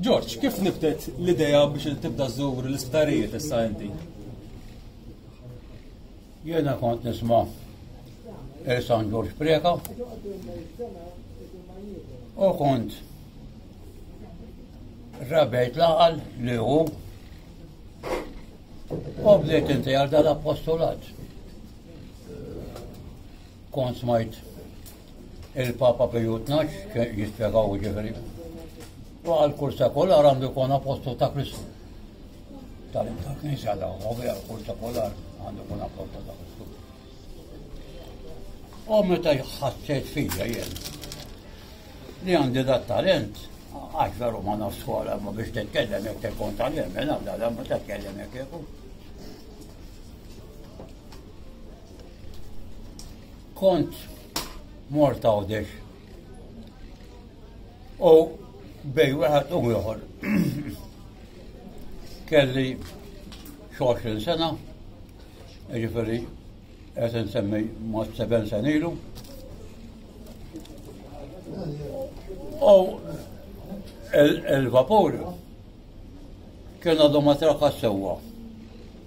George, kif nibtet l-idea biex tibda żżur l-isptarijiet issa inti? Jena kont nisma San George Preka u kont rabejt laqal li hu u bdejt inti għal dal-appostolat. Kont smajt Il-Papa Piju Tnax jispjegaw ġifieri. U għal kull sekular għandu jkun apostol ta' Kristu. Tal-Knisja ta' għobi għal kull sekular għandu jkun apostol ta' Kristu. U meta jħassejt fija jien li għandi da talent, għax veru ma nafx skola ma biex t-tkellem jek tkun talent, mela da da ma t-tkellem jek jekun. Kont mort għawdex. U bej wieħed u ieħor. Kelli xoxin sena, ġifiri, qed insemmi ma' seben sen ilu. U il-vapur kien għadu ma traka sewwa.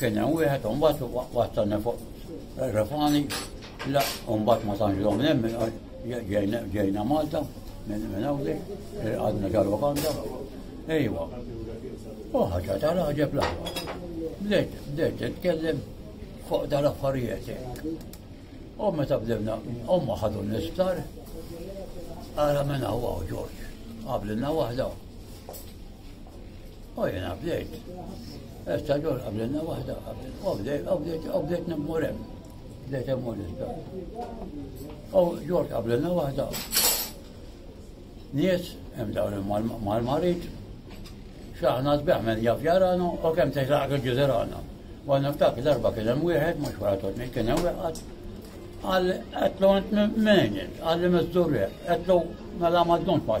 Kien hemm wieħed u mbagħad wattani fuq refani, la u mbagħad ma tantx dom hemm ġejna Malta minn hawnli, għadna ġal-Wakanda. Ejwa. U ħaġa tal-ħaġeb l-aħwa. Bdejt, bdejt nitkellem fuq dal-affarijiet. U meta bdewna, omma ħadu nistar, għara minn għawa u ġorġ, għablina wahda. U jena bdejt. Issa ġol qablenna waħda qabel. Obdet, obdet, obdet nemmur hemm. Bdejt hemm issa. U ġol qablenna waħda. Nies hemm dawn mal-marit. Xaħna sbeħ minn jaf jarana u kemm teħlaq il-ġizerana. Għanna ftak darba kien hemm wieħed mhux wara totni kien hemm wieħed. Għal qed l-għant minn, għal li miżdur qed l-għu mela ma ddunx ma'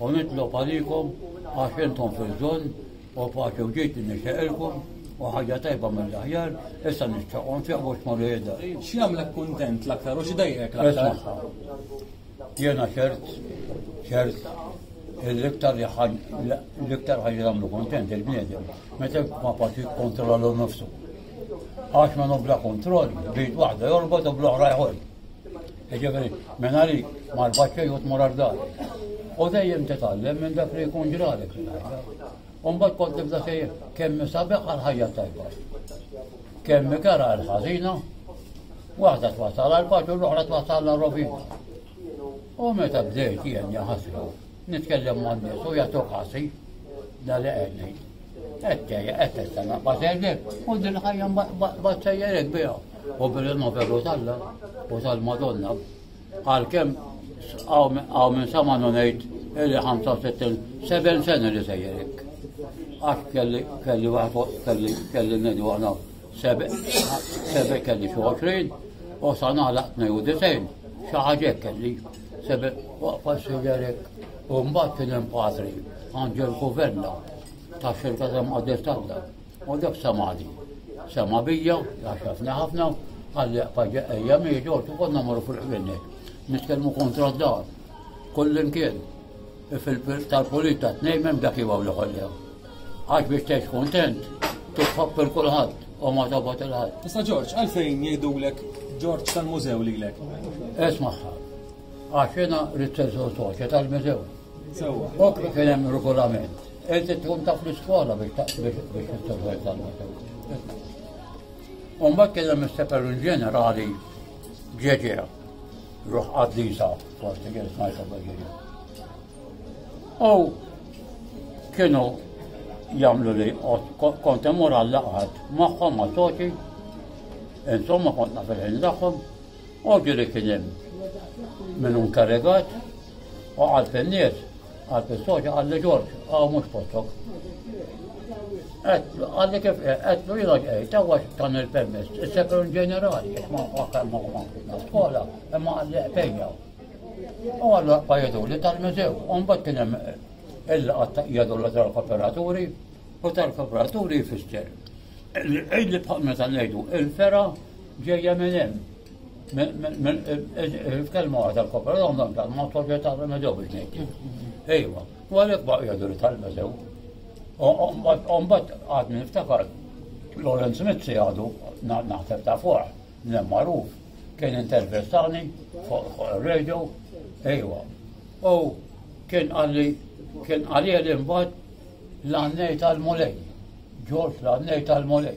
U nitlob għalikom għax intom fil-żon u paċi u ġid nixtieqilkom u ħaġa tajba mill-aħjar, issa nixtieqhom fiequ x'morru jidher. X'jagħmlek kuntent l-aktar u x'dejjek l-aktar? Jiena ċert, ċert, l-iktar l-iktar ħaġa jagħmlu kuntent il-bniedem meta ma paċi kontrollu nofsu. Għax ma nobla kontroll, bid waħda jorbot u bl-oħra jħol. Ġeveri, minna li marbaċ xej u tmur għardar. U dejjem titgħallem minn dak li jkun ġralek. Umbat kont tibda sejjer kemm sabiħ għal ħajja tajba. Kemm ikara għal ħażina, waħda twassal għal paċu l-oħra twassal għal rovina. U meta bdejt jien jaħasru, nitkellem ma' nies u jagħtu ħasi da li qegħdni. Qed tejja qed tista' naqbad u din ħajja ma sejjerek biha. U bil-noveru talla u tal-Madonna, għal-kem għaw minn sama nonajt illi 65 seben sena li sejjerik. Għax kelli kelli waħda kelli kelli nedu għana sebe sebe kelli xi 20 u sa naħlaq 92 xi ħaġa kelli sebe waqfa sejjerek u mbagħad kien hemm patri Angel Kuverna ta' xirka ta' Mqaddes Talla. U dak samadi. Sama bija, għaxafna ħafna, għalli paġa ejja mieġa, u konna marru fil-ħlinnet. Nitkellmu kontra d-dar. Kullin kien. Fil-pil tal-polita t-nejmem dak jibaw li ħollew. Għax biex tex kontent, titħobb il-kulħadd u ma tabat il-ħadd. Tista' Ġorġ, għalfejn jgħidulek Ġorġ tal-mużew lilek? Esmaħħa. Għax jena ritterżu soċja tal-mużew. Sewa, dok li kien hemm regolament, qed tkun taf l-iskola biex titteżwel talba sewa. U mbagħad kien hemm is-seperun ġenerali ġeġeja, ruħ qaddisa, forsi kien smajta ġeġeja. U kienu jamlu li kont imur għall-laqgħat magħhom ma' soċi, insomma kont nafel il-daħħom, Ovvju li kien hemm min hu nkarigat u għal fin-nies għal fis-soċja għal li Ġorġ hawn mhux postok. Għalli kif għetlu jina ġejt, għawa tan il-permess, il-sekretar ġenerali, ma għakam ma għakam skola, ma għalli għafejja. U għallu għajedu li tal-mużew, un bat kienem il-għatta jgħadu l-għazar kooperaturi, U tal-kobraturi jfisser li qid li bħal meta ngħidu il-fera ġejja minn hemm. Il-kelma għadha l-koperom dan dan ma toġġa ta' remedew biex ngħid. Ejwa, u għalhekk baqgħu jgħidu li tal-medew. Umbat għad minn iftakar Lorenz Mizzi għadu naħseb ta' fuq, nem magħruf, kien intervistani fuq radio, ejwa. U kien għalli kien għalli għalli mbagħad L-Għannejn tal-Mulej, Ġorġ l-Għannejn tal-Mulej.